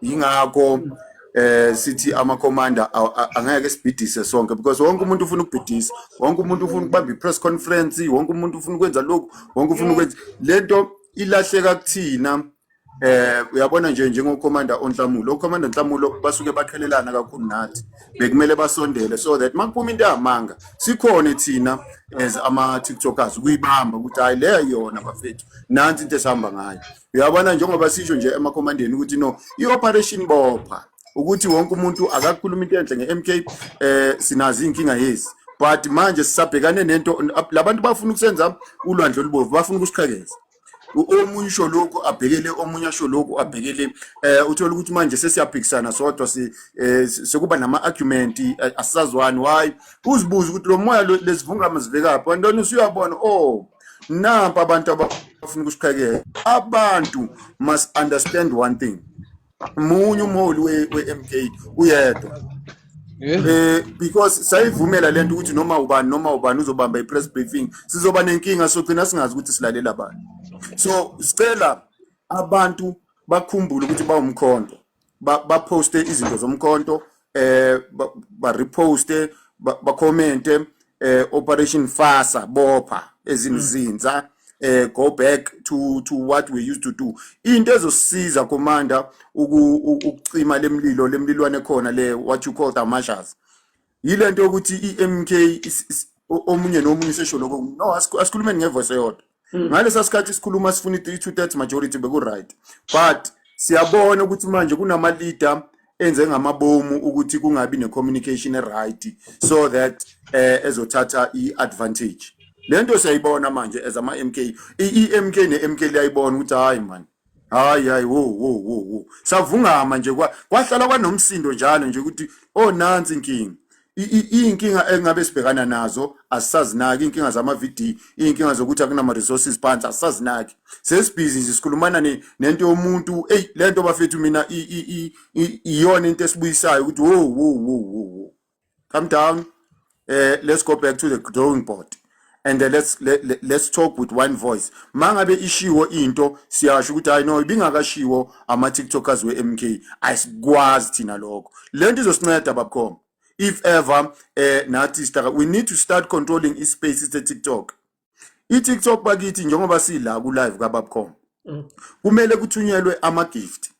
yingakho eh sithi ama commander angeke sibhidise sonke because wonke umuntu ufuna ukubhidisa wonke umuntu ufuna ukubamba i-press conference wonke umuntu ufuna ukwenza lokhu wonke ufuna ukwenza lento ilahleka kuthina eh uyabona nje njengocommander onhlamulo ocommander onhlamulo basuke baqhelelana kakhulu nathi bekumele basondele so that makuphuma into yamanga sikhona thina as ama tiktokers kuyibamba ukuthi hayi leyo yona bafethu nansi into esihamba ngayo uyabona njengoba sisho nje emakhomandeni ukuthi no i-operation bopha ukuthi wonke umuntu akakhuluma into enhle nge-mk um eh, sinazo iy'nkinga yezi but manje sisabhekane nento labantu bafuna ukusenza ulwandle olubovu bafuna ukusiqhekeza omunye usho lokhu abhekele omunye asho lokhu abhekele eh uthola ukuthi manje sesiyaphikisana sodwa si eh, sekuba nama argument eh, asazwani why uzibuza ukuthi lo moya lezivungama zivekaphi wantoni usuyabona oh nampa abantu abafuna ukusiphekela abantu must understand one thing munye umholi we-mk uyedwa eh because sayivumela lento ukuthi noma ubani noma ubani uzobamba i-press briefing sizoba nenkinga sogcina singazi ukuthi silalela bani so sicela abantu bakhumbule ukuthi bawumkhonto baposte ba izinto zomkhonto eh ba reposte ba commente ba eh operation fasa bopha ezimzinza mm. eh go back to to what we used to do into ezosiza commander ukucima lemlilo lemlilwane khona le what you call the marshals yile nto yokuthi i-mk omunye nomunye usesho lokho no asikhulumeni ngevoice eyodwa hmm. ngalesa sikhathi sikhuluma sifuna i-two thirds majority beku-right but siyabona ukuthi manje kunama-leader enze ngamabomu ukuthi kungabi ne-communication e-right so that eh ezothatha i-advantage le nto siyayibona manje as ama-m k i-m k ne-m k liyayibona ukuthi hhayi mani hayi hayi wo wo wo wo savungama nje kwahlala kwanomsindo njalo nje ukuthi oh nansi inkinga iyinkinga engabe sibhekana nazo asisazinaki iyinkinga zama-vd iyinkinga zokuthi akunama-resources phansi asisazinaki sesibhizi nje sikhulumana nento yomuntu eyi le nto bafethu mina iyona into esibuyisayo ukuthi wo wo wo wo wo come down uh, let's go back to the drawing board and uh, let's let, let, let's talk with one voice mangabe ishiwo into siyasho ukuthi hayi no ibingakashiwo ama tiktokers we-mk ayisikwazi thina lokho le nto izosinceda babkhoma if ever uh, nathi we need to start controlling ispace se-tiktok i-tiktok bakithi njengoba sila ku-live kababcom mm. kumele kuthunyelwe ama-gift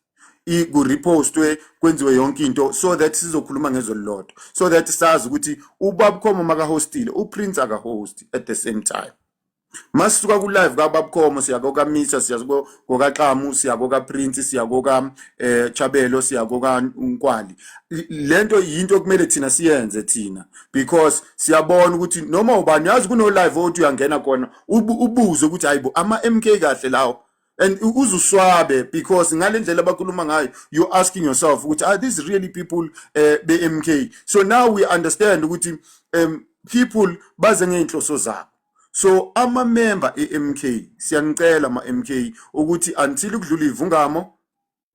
kurepostwe kwenziwe yonke into so that sizokhuluma ngezwe lilodwa so that sazi ukuthi ubabkhomo makahostile uprince akahosti at the same time masisuka ku-live kababkhomo siya kokamisa siya kokaxamu siya kokaprince siya kokachabelo eh, siya kokankwali le nto yinto okumele thina siyenze thina because siyabona ukuthi noma ubani yazi kuno live othi uyangena kona ubuze ukuthi hayibo ama MK kahle lawo and uzuswabe because ngalendlela abakhuluma ngayo you asking yourself ukuthi are these really people uh, be MK so now we understand ukuthi um people baze ngeinhloso zabo so ama member eMK siyanicela ama MK ukuthi until kudlula ivungamo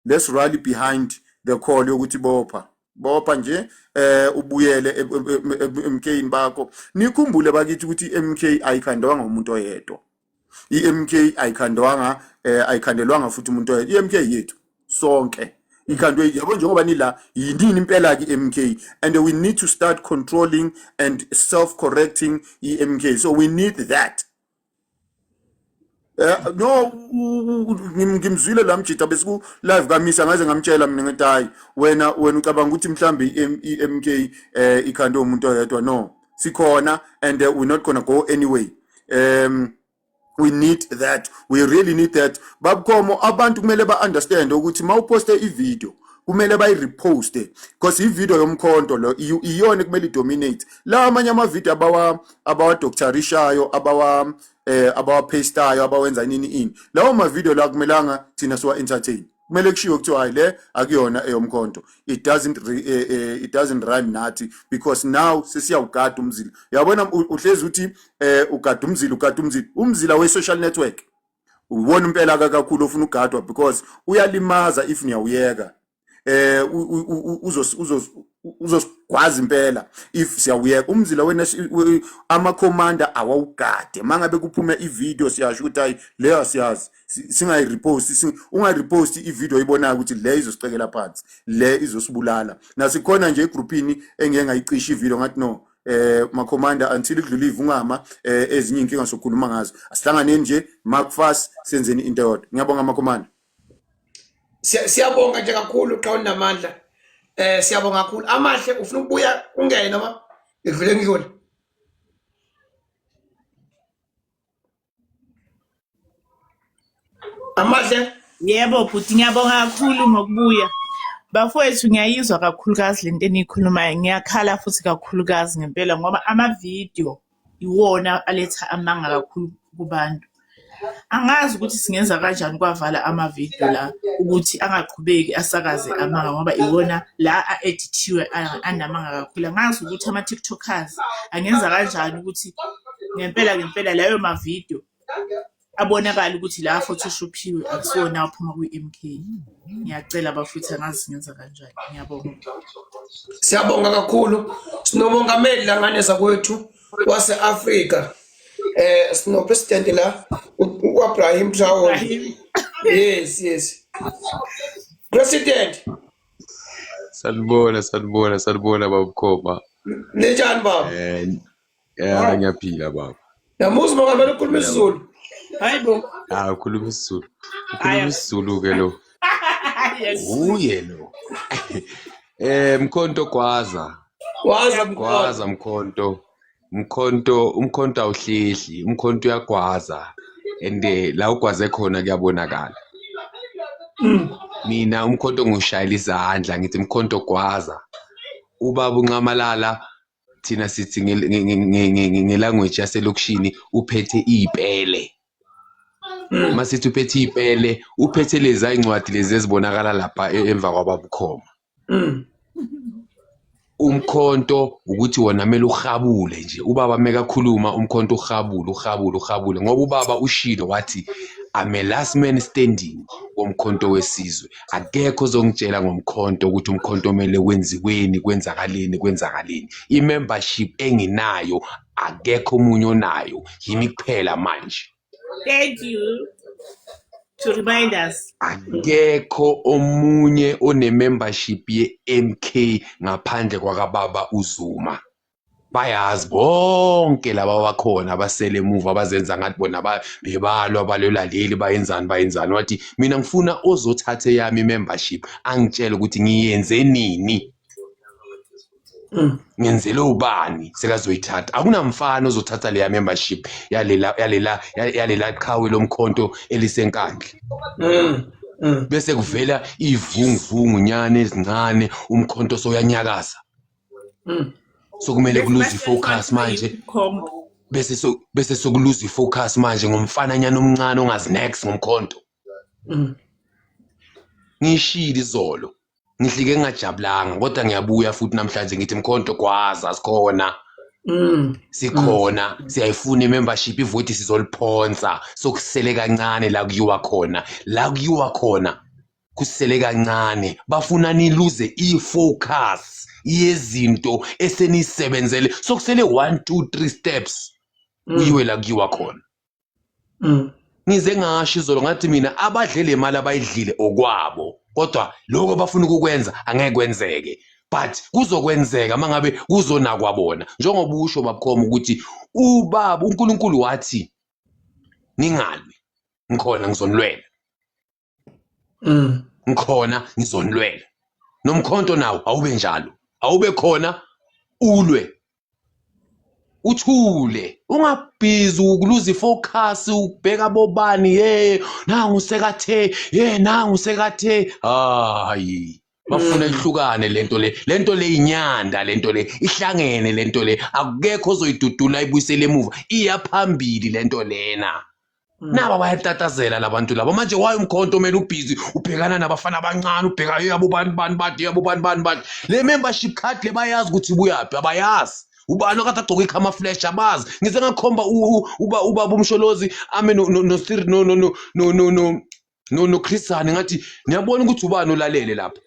let's rally behind the call yokuthi bopha bopha nje eh ubuyele eMK bakho nikhumbule bakithi ukuthi iMK ayikhandwanga umuntu oyedwa iMK ayikhandwanga eh ayikhandelwanga futhi umuntu oyedwa iMK yethu sonke ikhandwe yabo njengoba nila yinini impela ke MK and we need to start controlling and self correcting iMK so we need that Eh, no ngimzwile la mjita besiku live kamisa ngaze ngamtshela mina ngithi hayi wena wena ucabanga ukuthi mhlambe iMK eh ikhande umuntu oyedwa no sikhona and uh, we're not gonna go anyway um we need that we really need that babukhomo abantu kumele ba understand ukuthi mawuposte ivideo kumele bayireposte because ivideo yomkhonto lo iyona kumele idominate la amanye amavideo abawa abawadoktarishayo abawa eh abawapastayo abawenza inini ini lawo ma video la kumelanga thina siwa entertain kumele kushiwo kuthiwa hayi le akuyona eyomkhonto it doesn't re, eh, eh, it doesn't rhyme nathi because now sesiyawugada umzila yabona uhlezi uthi eh ugada umzila ugada umzila umzila we social network uwona impela kakhulu ofuna ugadwa because uyalimaza if niyawuyeka eh uzosigwaza impela if siyawuyeka umzila wena ama commander awawugade mangabe kuphume i video siyasho ukuthi hayi leyo siyazi singayi repost ungayi repost i video ibonayo ukuthi le izosicekela phansi le izosibulala nasikhona nje egroupini engeke ngayicisha i video ngathi no eh makhomanda until idlule ivungama eh ezinye inkinga sokhuluma ngazo asihlanganeni nje mark fast senzeni into yodwa ngiyabonga makhomanda siyabonga nje kakhulu qha unamandla eh siyabonga kakhulu amahle ufuna ukubuya ungene noma ngidlule ngidlule amahle yebo bhuti ngiyabonga kakhulu ngokubuya bafowethu ngiyayizwa kakhulukazi le nto eniyikhulumayo ngiyakhala futhi kakhulukazi ngempela ngoba amavidiyo iwona aletha amanga kakhulu kubantu. Angazi ukuthi singenza kanjani kwavala amavidiyo la ukuthi angaqhubeki asakaze amanga ngoba iwona la a-edithiwe anamanga kakhulu. Angazi ukuthi ama-tiktokers angenza kanjani ukuthi ngempela ngempela layo mavidiyo abonakala ukuthi la photoshophiwe akusona aphuma kwi-mk ngiyacela bafuthe angazi ngenza kanjani ngiyabonga siyabonga kakhulu sinobongameli langane zakwethu wase-afrika eh sinopresident la uabrahim traore yes yes president sanibona sanibona sanibona babukhoba linjani baba eh, Yara ngiyaphila baba. Yamuzi baba kumele ukhulume isiZulu. Hayi bo. Ah ukhuluma isiZulu. Ukhuluma isiZulu ke lo. Uye lo. Eh mkhonto gwaza. Gwaza mkhonto. Gwaza mkhonto. Mkhonto umkhonto awuhlehli, umkhonto uyagwaza. And eh, la ugwaze khona kuyabonakala. Mm. Mina umkhonto ngushayela izandla ngithi mkhonto gwaza. Ubaba unxamalala thina sithi ngelanguage yaselokishini uphethe iy'pele mm. uma sithi uphethe iy'pele uphethe lezi ay'ncwadi lezi ezibonakala lapha e, emva kwababukhoma mm. umkhonto ukuthi wona kumele uhabule nje ubaba mekakhuluma umkhonto uhabule uhabule uhabule ngoba ubaba ushilo wathi I'm a last man standing womkhonto wesizwe akekho ozongitshela ngomkhonto ukuthi umkhonto omele wenziweni kwenzakaleni kwenzakaleni i-membership enginayo akekho omunye onayo yimi kuphela manje thank you to remind us akekho omunye one-membership ye-mk ngaphandle kwakababa uzuma bayazi bonke laba bakhona abasele emuva abazenza ngathi bona bebalwa balwela leli bayenzani bayenzani wathi mina ngifuna ozothatha eyami membership angitshele ukuthi ngiyenze nini ngenzele ubani sekazoyithatha akunamfana ozothatha leya membership yalela yalela yalela qhawe lomkhonto elisenkandla mm. mm. bese kuvela ivunguvungu nyane ezincane umkhonto soyanyakaza Mm. so kumele kuluze ifocus manje bese so bese sokuluza ifocus manje ngomfana nyana omncane ongazi next ngomkhonto mm. ngishilo izolo ngihlike ngingajabulanga kodwa ngiyabuya futhi namhlanje ngithi mkhonto kwaza sikhona mm. sikhona mm. siyayifuna i-membership ivoti sizoliphonsa sokusele kancane la kuyiwa khona la kuyiwa khona kusele kancane bafuna niluze i-focus yezinto esenisebenzele sokusele 1 2 3 steps mm. uyiwe la kuyiwa khona mm. ngize ngasho izolo ngathi mina abadle le mali abayidlile okwabo kodwa lokho bafuna ukukwenza angeke kwenzeke but kuzokwenzeka mangabe kuzonakwa bona njengoba usho babukhoma ukuthi ubaba uNkulunkulu wathi ningalwi ngikhona ngizonilwela mm. ngikhona ngizonilwela nomkhonto nawo awube njalo awube khona ulwe uthule ungabhizi ukuluza ifocus ubheka bobani ye nangu sekathe ye nangu sekathe hayi bafuna ihlukane lento le lento le inyanda lento le ihlangene lento le akukekho ozoyidudula ibuyisele emuva iyaphambili lento lena Mm. naba bayatatazela labantu laba manje waye umkhonto kumele ubhizi ubhekana nabafana abancane ubheka yabo bani bani badi yabo bani bani badi le membership card le bayazi ukuthi ibuyaphi abayazi ubani okade agcoka ikhama flash abazi ngize ngakhomba uba ubaba umsholozi ame no no no no no no no no no Christian ngathi niyabona ukuthi ubani olalele lapha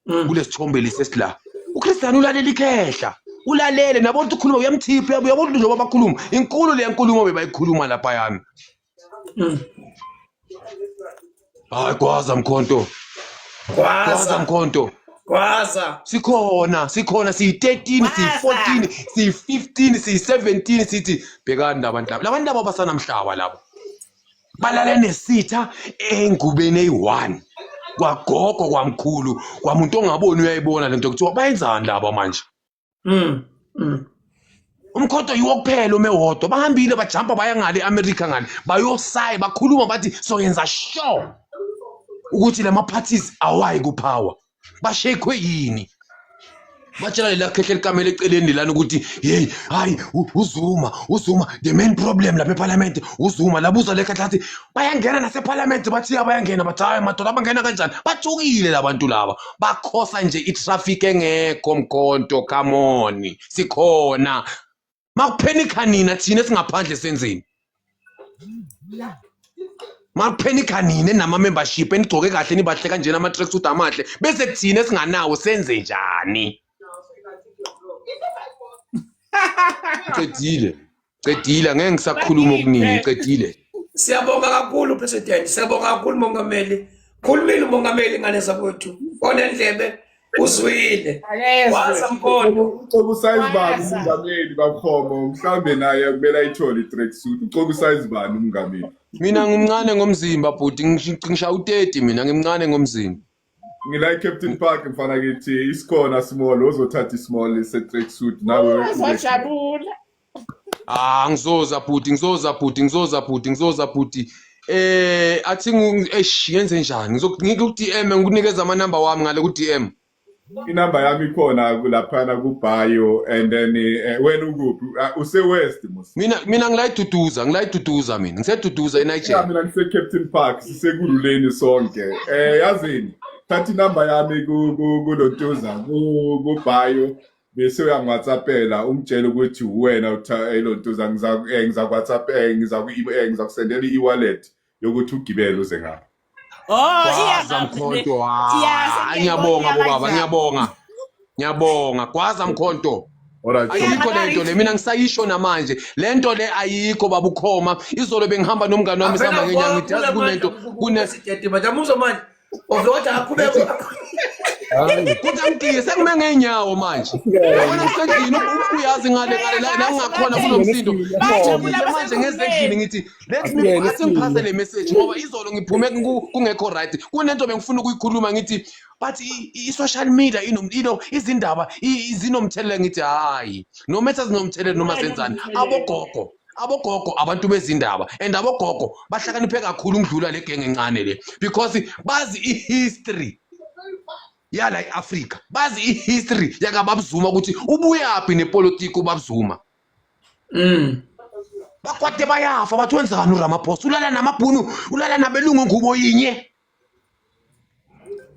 mm. kulesithombe lesi esila uChristian ulalele ikhehla ulalele nabo ukuthi ukhuluma uyamthipha yabo yabo njengoba bakhuluma inkulu le nkulumo bebayikhuluma lapha yami mm. hayi kwaza mkhonto kwaza mkhonto Gwaza. Sikhona, sikhona siyi-13, siyi-14, siyi-15, siyi-17 sithi bhekani labantu laba. Labantu laba basanamhlaba labo. balala nesitha engubeni eyi-one kwagogo kwamkhulu kwamuntu ongaboni uyayibona le nto kuthiwa bayenzani laba manje mm. Mm. umkhodo yiwo kuphela ume wodwa bahambile bajampa baya ngale eamerica ngale bayosaye bakhuluma bathi soyenza sure ukuthi la ma-parties awayi kuphawa bashekhwe yini batshela lela khehle likamela eceleni lana ukuthi hey hayi uzuma uzuma the main problem lapha eparliament uzuma labuza le khathi bayangena naseparliament bathi abayangena bathi hayi madoda abangena kanjani bathukile labantu laba bakhosa nje itraffic engekho mkhonto come on sikhona makuphenikha nina thina singaphandle senzeni makuphenikha nina nama membership enigcoke kahle nibahle kanjena ama track suit amahle bese kuthina singanawo senze njani qedile qedile ngeke ngisakhuluma okuningi ngiqedile siyabonga kakhulu president siyabonga kakhulu mongameli khulumile umongameli ngane zakwethu onendlebe uzwile waza mkondo ucoba usize bani umngameli bakhomo mhlambe naye kumele ayithole i-track suit ucoba usize bani umngameli mina ngimncane ngomzimba bhuti ngishaya u-30 mina ngimncane ngomzimba ngila captain park mfana kithi isikhona small ozothatha ismall se-track suit nawe uzojabula Ah ngizoza bhuti ngizoza bhuti ngizoza bhuti ngizoza bhuti eh athi eish yenze njani ngizokungike ku DM ngikunikeza ama number wami ngale ku DM inamba yami ikhona laphana kubhayo and then eh, wena ukuphi Ah, usewest mos mina mina ngilayiduduza ngilayiduduza mina ngiseduduza eNigeria mina ngise-captain park sisekululeni sonke um yazini thatha inamba yami ku- ku- kulotuza ku- kubhayo bese uyangiwhatsappela ungitshela ukuthi uwena elontuza eh, ngizakuwhatsapp eh, eh, ngizakusendela i-wallet yokuthi ugibele uze ngapha oh gwaza mkhonto ah, ngiyabonga bobaba ngiyabonga ngiyabonga gwaza mkhonto ayikho le nto le mina ngisayisho namanje le nto le ayikho baba ukhoma izolo bengihamba nomngane wami sihamba ngenyanga ngithi yazi kunento kunesitete manje amuzwa manje Ovota aqhubeke. Kodwa mdiki sekume ngeenyawo manje. Yabona kusendlini uyazi ngale ngale la la ngakhona kunomsindo. Manje ngezendlini ngithi let me asingiphase le message ngoba izolo ngiphume kungekho right. Kunento bengifuna ukuyikhuluma ngithi but i-social media inomlilo izindaba zinomthelela ngithi hayi no matter zinomthelela noma zenzani abogogo abogogo abantu bezindaba and abogogo bahlakaniphe kakhulu ukudlula le genge encane le because bazi i-history yala i-afrika bazi i-history yakababzuma ukuthi ubuyaphi nepolitiki ubabzuma mm. bakwade bayafa bathi wenzani uramaphosa ulala namabhunu ulala nabelungu ngubo yinye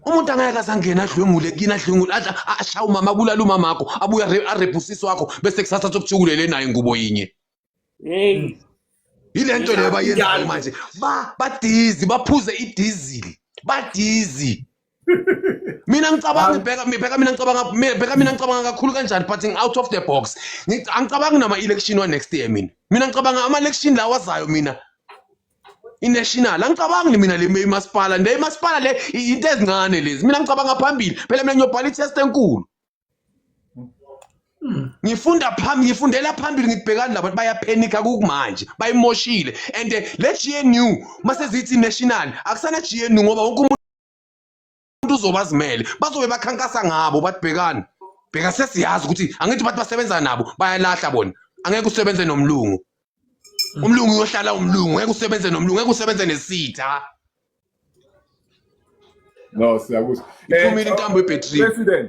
umuntu angeke asangena adlwengule kini adlwengule ashaya umama abulala umama akho abuye arephe usisi wakho bese kusasa sokujukulele naye ngubo yinye hey yile nto leyo bayenzayo manje ba badizi baphuze idizili badizi mina ngicabanga ibheka mibheka mina ngicabanga mibheka mina ngicabanga kakhulu kanjani but out of the box angicabangi nama election wa next year mina mina ngicabanga ama election lawa azayo mina inational angicabangi mina le imasipala le imasipala le into ezincane lezi mina ngicabanga phambili phela mina ngiyobhala i-test enkulu hmm. ngifunda phambili ngifundela phambili ngibhekani labantu bayaphenika kukumanje bayimoshile and le GNU masezithi national akusana GNU ngoba wonke umuntu umuntu uzobe azimele bazobe bakhankasa ngabo bathi bhekani bheka sesiyazi ukuthi angithi bathi basebenza nabo bayalahla bona angeke usebenze nomlungu umlungu uyohlala umlungu ngeke usebenze nomlungu ngeke usebenze nesitha no siyakuzwa iphumile intambo ebhetrini president